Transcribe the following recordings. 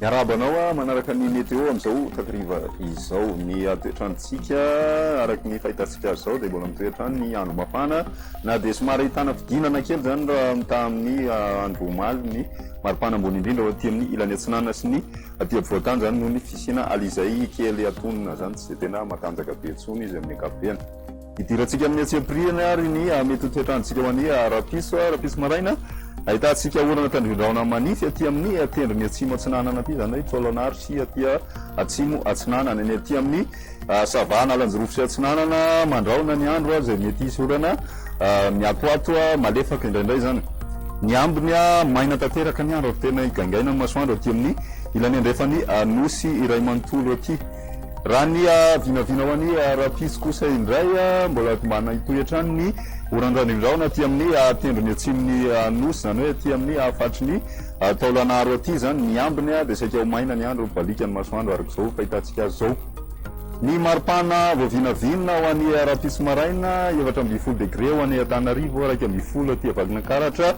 Miarahaba anao ah, manaraka ny météo amin'izao takariva izao. Ny toetrantsika araka ny fahitantsika azy izao dia mbola mitoetra ny andro mafana na dia somary ahitana fidinana kely izany raha mitaha amin'ny ah, andro omaly ny maripana ambony indrindra ao aty amin'ny ilany atsinanana sy ny Aty afovoan-tany zany noho ny fisiana ala izay kely atonina zany tsy dia tena matanjaka be intsony izy amin'ny ankapobeny. Idirantsika amin'ny antsipiriany ary ny mety toetrantsika ho an'ny rahampitso, rahampitso maraina, ahitantsika orana tandrindraona manify aty amin'ny tendrony atsimo atsinanana aty, izany hoe taolana ary sy aty atsimo atsinanana, ny aty amin'ny. Ça va Analanjirofo sy Atsinanana mandrahona ny andro izay mety hisy orana miatoato malefaka indraindray izany ny ambiny maina tanteraka ny andro ary tena higaingaina ny masoandro aty amin'ny ilany andrefan'ny nosy iray manontolo aty raha ny vinavina ho an'ny rahampitso kosa indray mbola tombana hitohy hatrany ny oran-dranondrahona aty amin'ny tendrony atsimon'ny nosy izany hoe aty amin'ny faritry ny Ary taolan'aro aty izany ny ambiny dia saika ho maina ny andro, mibaliaka ny masoandro araka izao fahitantsika azy izao. Ny maripana vao vinavina ho an'i Rahampitso maraina, efatra ambin'ny folo degre ho an'Antananarivo, iraika ambin'ny folo aty Vakinankaratra,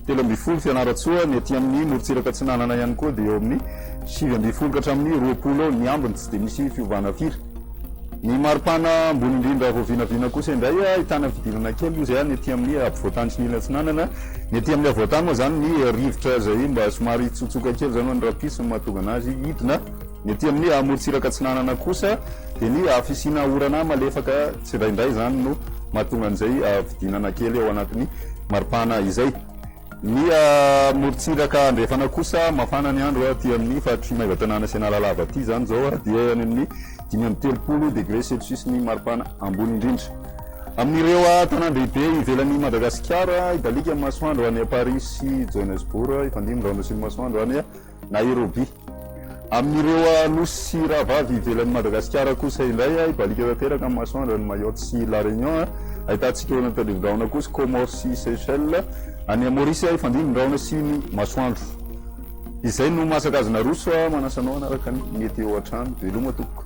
telo ambin'ny folo Fianarantsoa, ny aty amin'ny morontsiraka atsinanana ihany koa dia eo amin'ny sivy ambin'ny folo ka hatramin'ny roapolo eo ny ambiny, tsy dia misy fiovana firy. Ny maripana ambony indrindra vao vinavina kosa indray ahitana fidirana kely moa izay any aty amin'ny ampovoantany sy ny ilany atsinanana. Ny aty amin'ny havoantany moa izany ny rivotra izay mba somary hitsotsoka kely izany ho an'ny rahampitso no mahatonga an'azy hidina. Ny aty amin'ny amorontsiraka atsinanana kosa dia ny fisiana orana malefaka tsindraindray izany no mahatonga an'izay fidinana kely ao anatin'ny maripana izay. Miha morontsiraka andrefana kosa, mafana ny andro aty amin'ny faritr'i Maevatanàna sy Analalava aty izany izao dia any amin'ny dimy amby telopolo degré celsius ny maripana ambony indrindra. Amin'ireo tanàn-dehibe ivelan'i Madagasikara, hibaliaka ny masoandro any Paris sy Johannesburg, hifandimby ny rahona sy ny masoandro any. Nairobi. Amin'ireo nosy sy rahavavy ivelan'i Madagasikara kosa indray, hibaliaka tanteraka ny masoandro any Mayotte sy La Réunion. Ahitana tsiklôna tandrivindrahona kosa i Comores sy Seychelles. Any Maurice hifandimby ny rahona sy ny masoandro. Izay no maha sakajy naroso ahy, manasa anao hanaraka ny météo hatrany. Veloma tompoko.